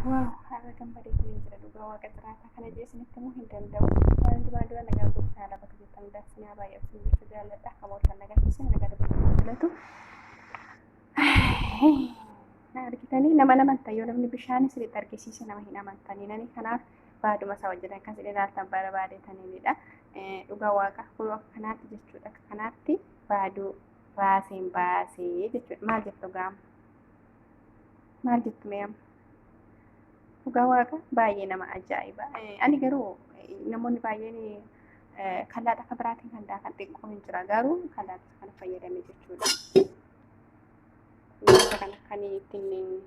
Waaw har'a gammadee kan hin jira dhugaa waaqa jiraataa kana jee isinitti immoo hin danda'u. Waan duraa dura nagaa gooftaa lafa keessatti hundaa sinaa baay'ee isin jechuu jaalladha. Akka mooltan nagaa keessan nagaa dabaluu filatu. Na argitanii nama nama ta'e yoo namni bishaan isinitti argisiise nama hin amantanii nani kanaaf baaduma isaa wajjin akka isin ilaaltan barbaade taniinidha. Dhugaa waaqa kun akka kanaatti jechuudha akka kanaatti baaduu raaseen baasee jechuudha maal jettu gaama. maal jettu mee amma dhugaa waaqa baay'ee nama ajaa'iba ani garuu namoonni baay'een kallaa akka biraatiin kan daakan xiqqoo hin jira garuu kallaa kana fayyadame jechuudha wanta kana kan ittiin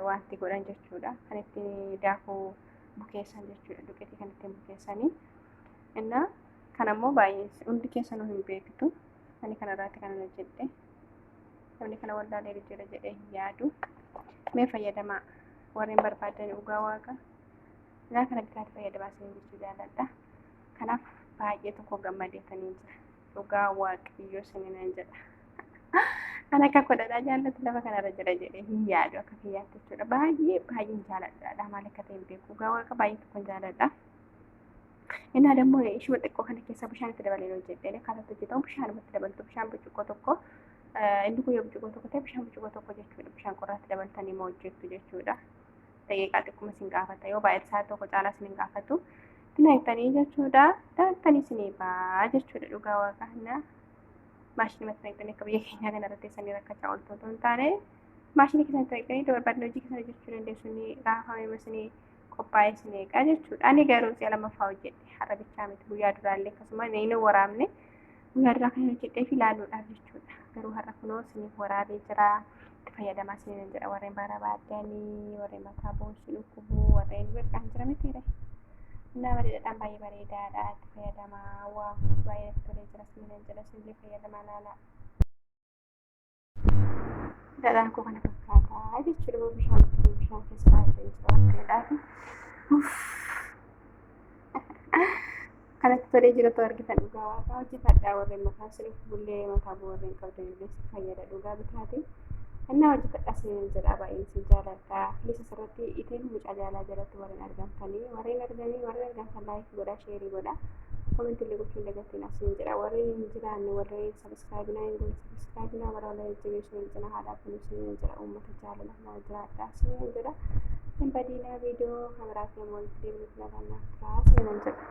wanti godhan jechuudha kan ittiin daakuu bukeessan jechuudha duqeetii kan ittiin bukeessanii innaa kan ammoo baay'ee hundi keessanuu hin beektu ani kanarraatti kanan hojjedhe namni kana wallaalee jira jedhee hin yaadu mee fayyadamaa warreen barbaadan dhugaa waaqa ilaa kana bitaatti fayyadamaa isin jechuu jaalladha kanaaf baay'ee tokko gammadeetanii jira dhugaa waaqayyoo sininan jedha kan akka godhadhaa jaallatu lafa kanarra jira jedhee hin yaadu akka kiyyaatti jechuudha baay'ee baay'een jaalladha maal akka ta'e hin beeku dhugaa waaqa baay'ee tokko jaalladha. Innaa dammoo ishuma xiqqoo kana keessa bishaan itti dabalee hojjedhee akkaataa itti hojjetamu bishaanuma itti dabaltu bishaan burcuqqoo tokko inni kun yoo burcuqqoo tokko ta'e bishaan burcuqqoo tokko jechuudha bishaan qorraatti dabaltanii moo hojjettu jechuudha. Daqiiqaa xiqquma isin gaafata yoo baay'ee isaa tokko caalaa isin hin gaafatu. Dinagdanii jechuudha daaktanii isin eebaa jechuudha dhugaa waaqa hannaa. Maashinii matti dinagdanii akka biyya keenyaa kana irratti isanii rakkachaa ooltu otoo hin taane maashinii keessatti dinagdanii dabarbaadni hojii keessan hojjechuu dandeessu ni raafamee masinii. qophaa'es meeqa jechuudha. Ani garuu si'a lamaffaa hojjedhe har'a bichaa miti guyyaa duraallee akkasuma meeyna waraabne guyyaa duraa kan hojjedhee fi ilaaluudhaaf jechuudha. Garuu har'a kunoo isiniif waraabee jira. Itti fayyadamaa isiniin jedha warreen barbaadanii warreen mataa boonsi dhukkubuu warreen beekaan jira miti ree. Innaa bareedaadhaan baay'ee bareedaadha itti fayyadamaa waa baay'ee tolee jira isiniin jedha isinillee fayyadamaa laalaa. Dhadhaan koo kana fakkaataa jechuudha yoo bishaan itti bishaan keessa baay'ee jira akka jedhaati. Kanatti tolee jiratu argitan dhugaa waaqaa hojjetadhaa warreen mataa sirriif bullee mataa boo warreen qabdan illee si fayyada dhugaa bitaati. Innaa hojjetadhaa seenan jedhaa baay'een si jaaladhaa. Kunis asirratti itiin mucaa jaalaa jalatti warreen argamtanii warreen arganii warreen argamtan laayikii godhaa sheerii godhaa. Komentillee gochuun dagatiin asiin jedha warreen hin jiraanne warreen Subscribe na hin godhin subscribe na bara wala jajjabeessu wal cina haa dhaabbannu isiniin jedha uummata jaalala na jiraadha isiniin jedha hin badiina viidiyoo kameraaf nama walitti deemnu filatannaaf turaa isiniin jedha.